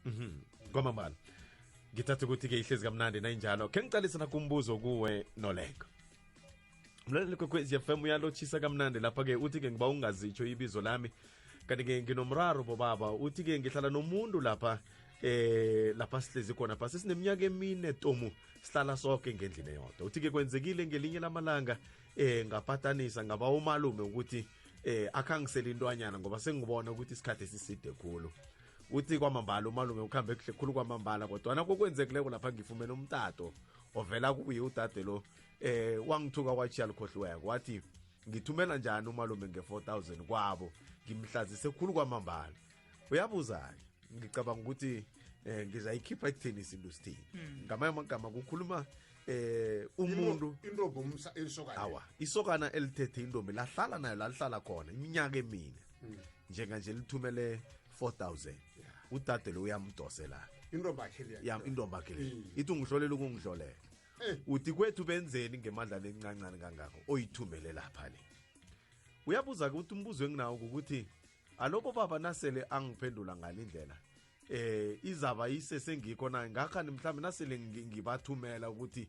Mhm. kwamambala ngithatha ukuthi-ke ihlezi kamnandi nayinjalo khe ngiqalise nakho umbuzo kuwe noleko mlaleli kwekwezi fm uyalotshisa kamnandi lapha-ke uthi-ke ngiba ungazitsho ibizo lami kanti-ke nginomraro bobaba uthi-ke ngihlala nomuntu lapha eh lapha sihlezi khona pha sesineminyaka emine tomu sihlala soke ngendlini eyodwa uthi-ke kwenzekile ngelinye lamalanga eh ngapatanisa ngaba umalume ukuthi eh akhangisele intwanyana ngoba sengibona ukuthi isikhathi esiside khulu uthi kwamambala umalume ukuhambe kuhle khulu kwamambala kodwana kokwenzekileko lapha ngifumene umtato ovela kuye udade lo eh wangithuka kwachiya likhohliweko wathi ngithumela njani umalume nge-4000 kwabo ngimhlazise khulu kwamambala uyabuza-ke ngicabanga ukuthi eh ngizayikhipha ekutheni isintu sithini hmm. ngamanye amagama kukhuluma eh umuntu intombi umsa isokana awa isokana elithethe intombi lahlala nayo lalihlala khona iminyaka emine hmm. njenganje lithumele 4000 udade lo uyamdoselana intombi akhe leya intombi akhe leya hmm. ithi ungihlolela ukungihlolela eh. uthi kwethu benzeni ngemandla lencancane kangako oyithumele lapha le uyabuza ke ukuthi umbuzo enginawo ukuthi alobo baba nasele angiphendula ngale ndlela eh izaba isesengikho naye ngakhani mhlawumbe nasele ngibathumela ukuthi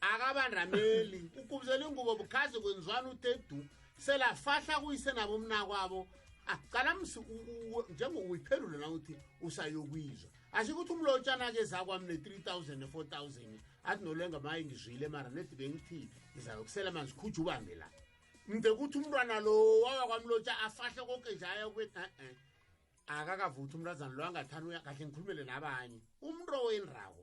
akabandameli ukubizela ingubo bukhazi kwenziwani uthe du selafahla kuyise nabo mnakwabo ah, cala msi njengokuyiphendule na uthi usayokwizwa asho ukuthi umlotshana ke zakwami ne-3 000 ne-4 000 athi nolenga maye ngizwile mara nedi bengithi ngizayokusela manzi khuja ubambe la mde kuthi umntwana lo wawakwamlotsha afahle konke nje aya kubethi e-e akakavuthi umntazana lo angathani kahle ngikhulumele nabanye umntu owenrako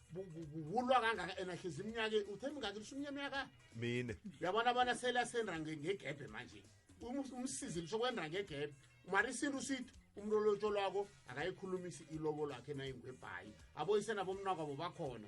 wulwa kangaka ena hlezi iminyaka uthe mingaki lisho iminyamyaka mine uyabona bona sele asendra ngegebhe manje umsizi lisho kwendra ngegebhe mara isintu sithi umuntu olotho lwako akayikhulumisi ilobo lwakhe nayingwebhayi aboyise nabomnakwabo bakhona